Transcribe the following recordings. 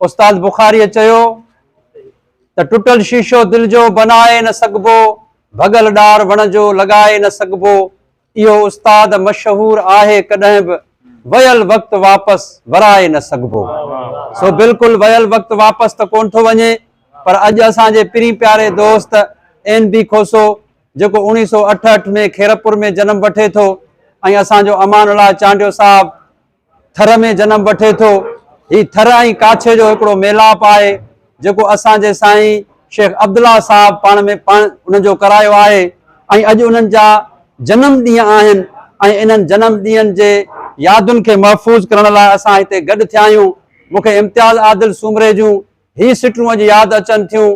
استاد بخاريء چيو ته ٽٽل شيشو دل جو بنائي نه سگهبو، ڀڳل ڏار وڻ جو لڳائي نه سگهبو، اهو استاد مشهور آهي ڪڏهن به ويل وقت واپس ورائي نه سگهبو. سو بلڪل ويل وقت واپس ته ڪونه ٿو وڃي پر اڄ اسان جي پرين پياري دوست اين بي کوسو جيڪو اوڻيهه سؤ اٺهٺ ۾ خيرپور ۾ جنم وٺي ٿو ۽ اسان جو امان الله چانڊيو صاحب ٿر ۾ جنم وٺي ٿو. هي ٿر ۽ ڪاڇي جو هڪڙو ميلاپ آهي، جيڪو اسان جي سائين شيخ عبدالله صاحب پاڻ ۾ پاڻ ان جو ڪرايو آهي ۽ اڄ انهن جا جنم ڏينهن آهن ۽ انهن جنم ڏينهن جي يادن کي محفوظ ڪرڻ لاء اسان هتي گڏ ٿيا آهيون. مون کي امتياز عادل سومري جون هي سٽون اڄ ياد اچن ٿيون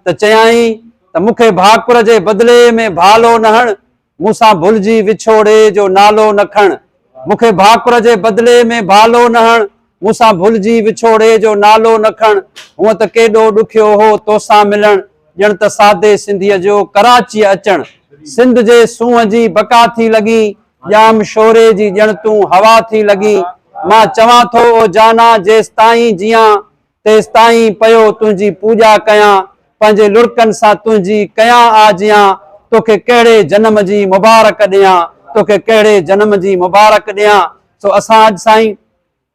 ته چيائين ته مون کي ڀاڪر جي بدلي ۾ ڀالو نه هڻ مون سان ڀلجي وڇوڙي جو نالو نه کڻ. مون کي ڀاڪر جي بدلي ۾ ڀالو نه هڻ. مون سان ڀلجي وڇوڙي جو نالو نه کڻ. هونء ته ڪيڏو ڏکيو هو توسان ملڻ. ڄڻ ته سادي سنڌيء جو ڪراچيء اچڻ. سنڌ جي سونهن جي بقا ٿي لڳين. ڄام شوري جي ڄڻ تون هوا ٿي لڳين. مان چوان ٿو او جانا جيستائين جيان. تيستائين پيو تنهنجي پوڄا ڪيان، پنهنجي لڙڪن سان تنهنجي ڪيان آجيان، توکي ڪهڙي جنم جي مبارڪ ڏيان، توکي ڪهڙي جنم جي مبارڪ ڏيان. سو اسان اڄ سائين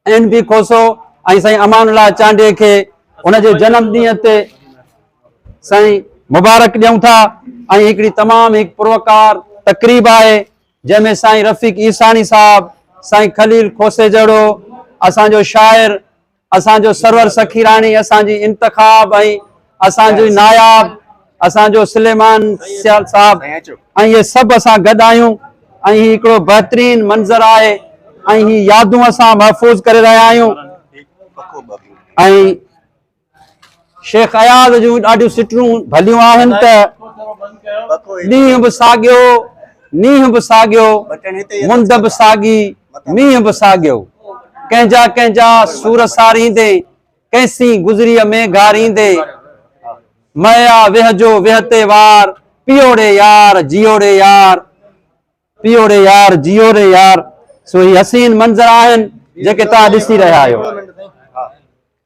اين بي کوسو ۽ سائين امان الله چانڊيي کي ان جي جنم ڏينهن تي سائين مبارڪ ڏيون ٿا ۽ هڪڙي تمام هڪ پروقار تقريب آهي جنهن ۾ سائين رفيق عيساڻي صاحب، سائين خليل کوسي جهڙو اسان جو شاعر، اسان جو سرور سخيراڻي اسان جي انتخاب ۽ اسان جي ناياب اسان جو سليمان سيال صاحب ۽ هي سڀ اسان گڏ آهيون ۽ هي هڪڙو بهترين منظر آهي ۽ هي يادون اسان محفوظ ڪري رهيا آهيون ۽ شيخ اياز جون ڏاڍيون سٽون ڀليون آهن ته، ڏينهن به ساڳيو، نينهن به ساڳيو، مند به ساڳي، مينهن به ساڳيو. ڪنهن جا ڪنهن جا سور ساريندي، ڪنهن سين گذريء ۾ گهاريندي، مئيا ويهه جو ويهه تي وار، پيئو ري يار، جيئو ري يار، پيئو ري يار، جيئو ري يار. سو هي حسين منظر آهن جيڪي توهان ڏسي رهيا آهيو.